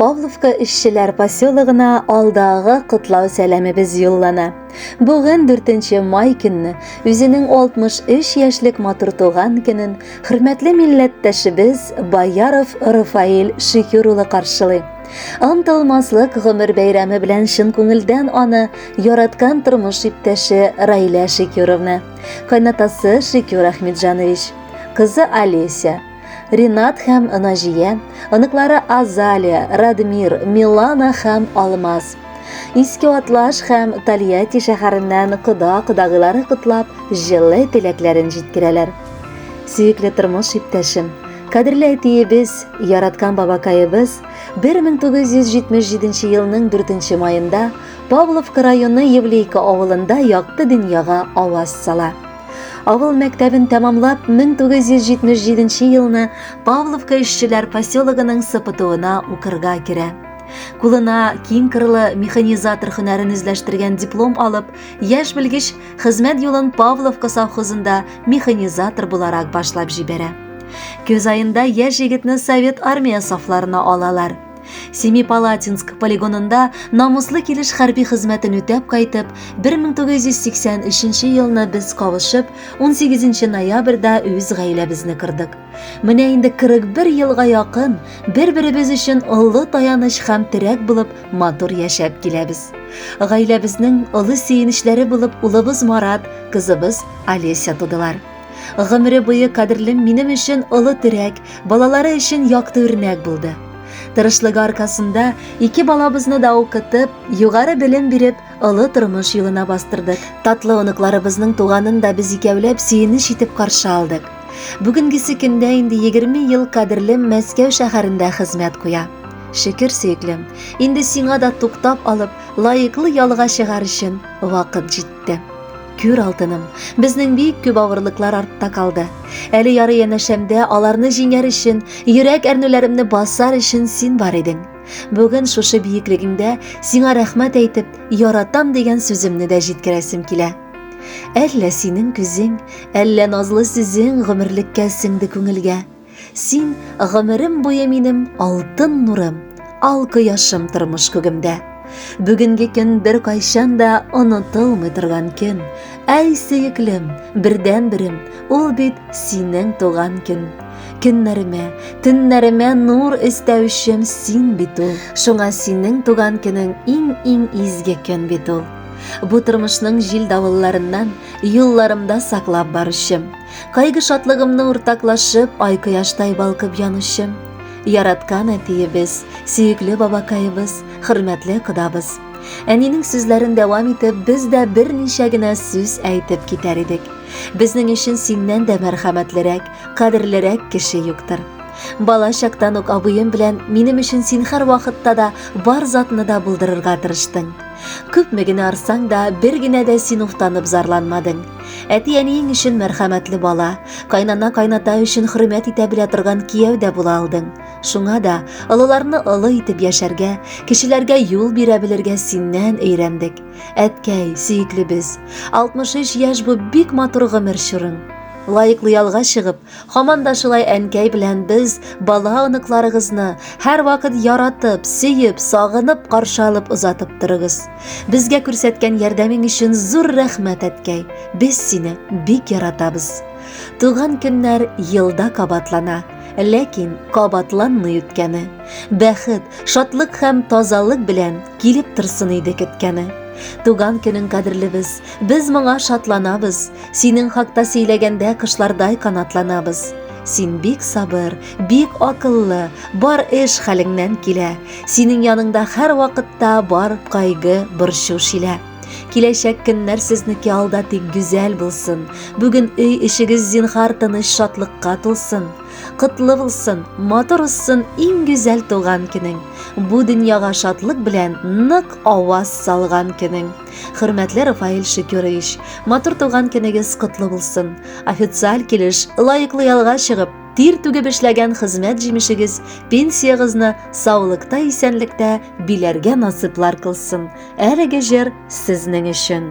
Павловка эшчеләр поселогына алдагы котлау сәламебез юллана. Бүген 4 май көнне үзенең 63 яшьлек матур туган көнен хөрмәтле милләттәшебез Баяров Рафаил Шөкер улы каршылый. Анталмаслык гомер бәйрәме белән чын күңелдән аны яраткан тормыш иптәше Райлә Шөкеровны Кайнатасы Шикюр Ахмеджанович, кызы Олеся, Ринат һәм Наҗия, оныклары Азалия, Радмир, Милана һәм Алмаз. Иске Атлаш һәм Тольятти шәһәреннән кода-кодагыйлары котлап, җылы теләкләрен җиткерәләр. Сөекле тормыш иптәшем, Кадерле әтиебез, яраткан бабакаебыз 1977 елның 4 маенда Павловка районы Евлейка авылында якты дөньяга аваз сала. Авыл мәктәбен тәмамлап 1977 елны Павловка эшчеләр поселогының сыпытуына укырга керә. Кулына киң кырлы механизатор һөнәрен үзләштергән диплом алып, яшь белгеч хезмәт юлын Павловка совхозында механизатор буларак башлап җибәрә. Көз айында яшь егетне совет армия сафларына алалар. Семипалатинск полигонында намуслы килеш хәрби хезмәтен үтәп кайтып, 1983 елны без кавышып, 18 ноябрьдә үз гаиләбезне кырдык. Менә инде 41 елга якын бер-беребез өчен олы таяныч һәм терәк булып матур яшәп киләбез. Гаиләбезнең олы сөенечләре булып улыбыз Марат, кызыбыз Олеся тудылар. Гомере буе кадерлем минем өчен олы терәк, балалары өчен якты үрнәк булды. Тырышлыгы аркасында ике балабызны да укытып, югары белем биреп, олы тормыш юлына бастырдык. Татлы оныкларыбызның туганын да без икәүләп сөенеч итеп каршы алдык. Бүгенгесе көндә инде 20 ел кадерлем Мәскәү шәһәрендә хезмәт куя. Шөкер, сөеклем, инде сиңа да туктап алып, лаеклы ялга чыгар өчен вакыт җитте. Көр алтыным, безнең бик күп авырлыклар артта калды. Әле яры янәшәмдә аларны җиңәр өчен, йөрәк әрнүләремне басар өчен син бар идең. Бүген шушы биеклегеңдә сиңа рәхмәт әйтеп, яратам дигән сүземне дә җиткерәсем килә. Әллә синең күзең, әллә назлы сүзең гомерлеккә сеңде күңелгә. Син, гомерем буе минем алтын нурым, ал кояшым тормыш күгемдә. Бүгенге көн бер кайчан да онытылмый торган көн. Әй, сөеклем, бердән-берем, ул бит синең туган көн. Көннәремә, төннәремә нур өстәүчем син бит ул. Шуңа синең туган көнең иң-иң изге көн бит ул. Бу тормышның җил-давылларыннан юлларымда саклап баручым. Кайгы шатлыгымны уртаклашып, ай кояштай балкып янучым. Яраткан әтиебез, сөекле бабакаебыз, хөрмәтле кодабыз. Әнинең сүзләрен дәвам итеп, без дә берничә генә сүз әйтеп китәр идек. Безнең өчен синнән дә мәрхәмәтлерәк, кадерлерәк кеше юктыр. Бала чактан ук абыем белән минем өчен син һәр вакытта да бар затны да булдырырга тырыштың. Күпме генә арсаң да, бер генә дә син уфтанып зарланмадың. Әти-әниең өчен мәрхәмәтле бала, кайнана-кайната өчен хөрмәт итә белә торган кияү дә була алдың. Шуңа да олыларны олы итеп яшәргә, кешеләргә юл бирә белергә синнән өйрәндек. Әткәй, сөеклебез, 63 яшь бу бик матур гомер чорың. Лаеклы ялга чыгып, һаман да шулай әнкәй белән без бала оныкларыгызны һәрвакыт яратып, сөеп, сагынып каршы алып озатып торыгыз. Безгә күрсәткән ярдәмең өчен зур рәхмәт, әткәй. Без сине бик яратабыз. Туган көннәр елда кабатлана, ләкин кабатланмый үткәне. Бәхет, шатлык һәм тазалык белән килеп торсын иде көткәне. Туган көнең кадерлебез, без моңа шатланабыз. Синең хакта сөйләгәндә кышлардай канатланабыз. Син бик сабыр, Бик акыллы, бар эш хәлеңнән килә. Синең яныңда һәр вакытта бар кайгы, борчу шилә. Киләчәк көннәр сезнеке алда тик гүзәл булсын. Бүген өй эчегез зинхар тыныч шатлыкка тулсын. Котлы булсын, матур узсын иң гүзәл туган көнең. Бу дөньяга шатлык белән нык аваз салган көнең. Хөрмәтле Рафаэль Шөкерович, матур туган көнегез котлы булсын. Официаль килеш лаеклы ялга чыгып, Тир түгеп эшләгән хезмәт җимешегез пенсиягезне саулыкта исәнлектә биләргә насыйплар кылсын. Әлеге җыр сезнең өчен.